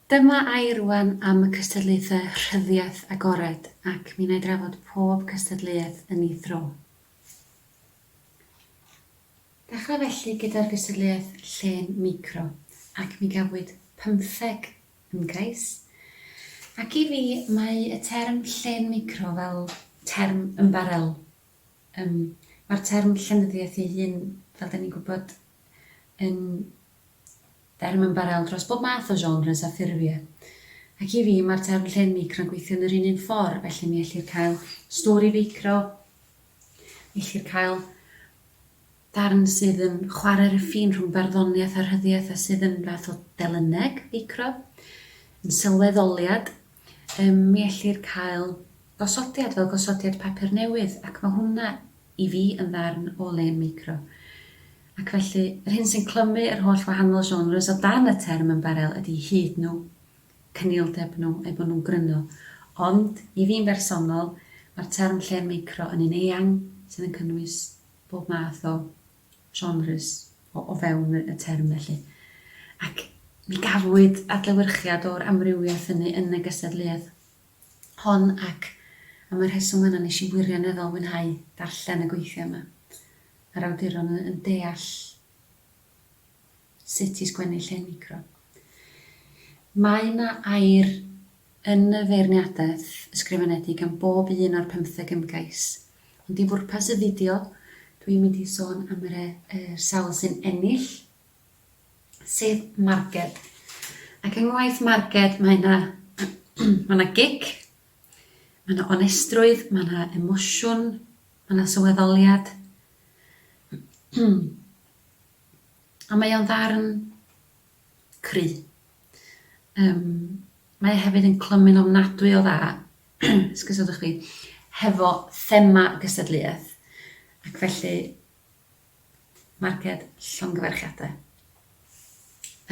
Dyma air rwan am y cystadlaethau rhyddiaith agored ac mi wna i drafod pob cystadleuaeth yn ei thro. Dechrau felly gyda'r gystadleuaeth llên micro ac mi gafwyd pymtheg ymgais. Ac i fi, mae y term llên micro fel term ymbarél. Yym, mae'r term llenyddiaeth ei hun, fel 'dan ni'n gwybod, yn derm ymbarél dros bob math o genres a ffurfiau. Ac i fi, mae'r term llên micro'n gweithio yn yr un un ffordd, felly mi ellir cael stori feicro, Gellir cael darn sydd yn chwarae'r ffin rhwng barddoniaeth a rhyddiaith a sydd yn fath o delyneg, feicro, yn sylweddoliad. Yym, mi ellir cael gosodiad fel gosodiad papur newydd, ac mae hwnna, i fi, yn ddarn o le yn meicro. Ac felly, yr hyn sy'n clymu yr holl wahanol genres o dan y term ymbarél ydy hud nhw, cynildeb nhw, eu bod nhw'n gryno. Ond, i fi'n bersonol, mae'r term llên meicro yn un eang sydd yn cynnwys bob math o genres o fewn y term felly. Ac mi gafwyd adlewyrchiad o'r amrywiaeth hynny yn y gystadleuaeth hon ac am y rheswm yna nes i wirioneddol fwynhau darllen y gweithiau yma. Mae'r awduron yn deall Sut i sgwennu lle micro. Mae 'na air yn y feirniadaeth ysgrifenedig am bob un o'r pymtheg ymgais, ond i fwrpas y fideo dw i'n mynd i sôn am yr er sawl sy'n ennill, sef marged. Ac yng ngwaith marged mae 'na ma' 'na gic, ma' 'na onestrwydd, ma' 'na emosiwn, ma' 'na sylweddoliad. Ond mae o'n ddarn cry. Yym, mae e hefyd yn clymu'n ofnadwy o dda, sgusodwch fi, hefo thema gystadleuaeth. Ac felly, marced llongyfarchiadau.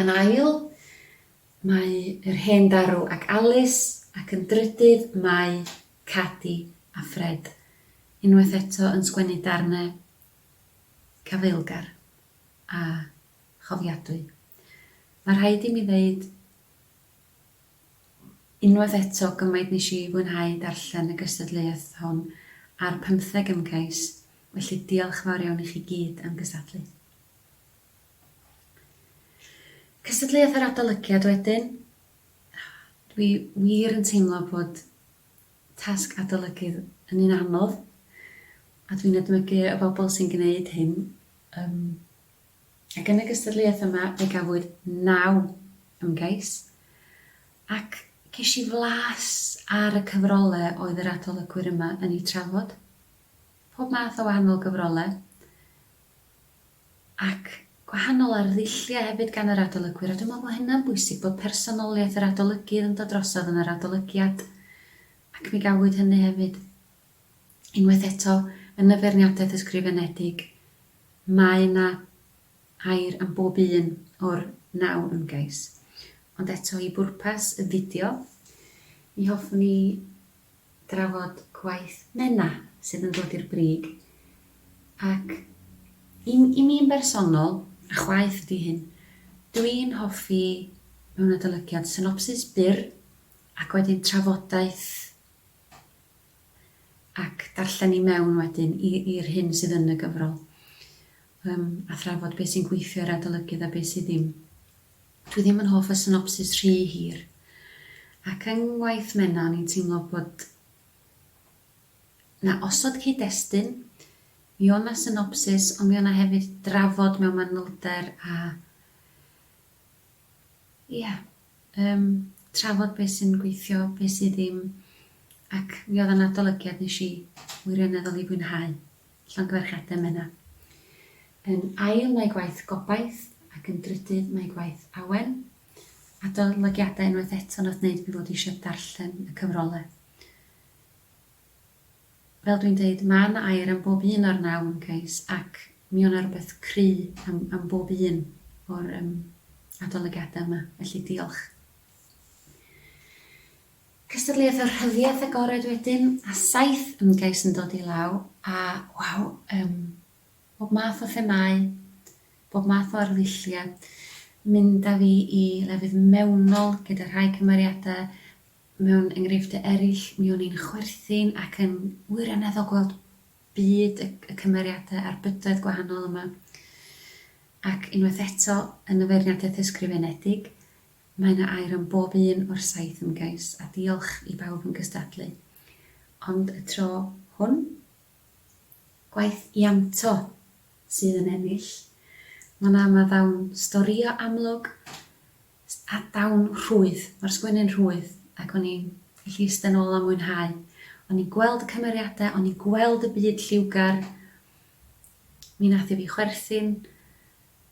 Yn ail, mae yr hen darw ac Alice, ac yn drydydd mae Cadi a Ffred. Unwaith eto yn sgwennu darnau cyfeillgar a chofiadwy. Mae rhaid i mi ddeud unwaith eto gymaint nes i fwynhau darllen y gystadleuaeth hon a'r pymtheg ymgais, felly diolch fawr iawn i chi gyd am gystadlu. Cystadleuaeth yr adolygiad wedyn, dwi wir yn teimlo bod tasg adolygydd yn un anodd, a dwi'n edmygu y bobl sy'n gwneud hyn, yym, ac yn y gystadleuaeth yma fe gafwyd naw ymgais, ac ges i flas ar y cyfrolau oedd yr adolygwyr yma yn eu trafod, pob math o wahanol gyfrolau, ac gwahanol ar ddulliau hefyd gan yr adolygwyr, a dwi'n meddwl bod hynna'n bwysig, bod personoliaeth yr adolygydd yn dod drosodd yn yr adolygiad, ac mi gafwyd hynny hefyd. Unwaith eto, yn y feirniadaeth ysgrifenedig, mae yna air am bob un o'r naw ymgais. Ond eto, i bwrpas y fideo, mi hoffwn i drafod gwaith Menna sydd yn dod i'r brig ac i i mi yn bersonol, a chwaeth ydi hyn, dw i'n hoffi mewn adolygiad synopsis byr ac wedyn trafodaeth ac darllen i mewn wedyn i i'r hyn sydd yn y gyfrol yym a thrafod be sy'n gweithio i'r adolygydd a be sydd ddim. Dwi ddim yn hoff o synopsis rhy hir. Ac yng Ngwaith Menna o'n i'n teimlo bod 'na osod cyd-destun, mi o' 'na synopsis ond mi o' 'na hefyd drafod mewn manylder a ia, yym trafod be' sy'n gweithio, be' sy' ddim ac mi o'dd o'n adolygiad nesh i wirioneddol 'i fwynhau. Llongyfarchiadau Menna. Yn ail mae gwaith Gobaith ac yn drydydd mae gwaith Awen. Adolygiadau unwaith eto nath neud fi fod eisiau darllen y cyfrole. Fel dwi'n deud ma' 'na air am bob un o'r naw ymgais ac mi o' 'na rwbeth cry am am bob un o'r yym adolygiadau yma felly diolch. Cystadleuaeth y rhyddiaith agored wedyn, a saith ymgais yn dod i law, a, waw, yym, bob math o themâu, bob math o arddulliau. Mynd â fi i lefydd mewnol gyda rhai cymeriadau, mewn enghreifftiau eraill, mi o'n i'n chwerthin ac yn wirioneddol gweld byd y y cymeriadau a'r bydoedd gwahanol yma. Ac, unwaith eto, yn y feirniadaeth ysgrifenedig, Mae 'na air am bob un o'r saith ymgais, a diolch i bawb yn gystadlu. Ond y tro hwn, gwaith Ianto sydd yn ennill. Mae 'na ma ddawn storïo amlwg a dawn rhwydd. Mae'r sgwennu'n rhwydd ac o'n i'n gallu iste 'nôl a mwynhau. O'n i'n gweld y cymeriadau, o'n i'n gweld y byd lliwgar. Mi nath e fi chwerthin.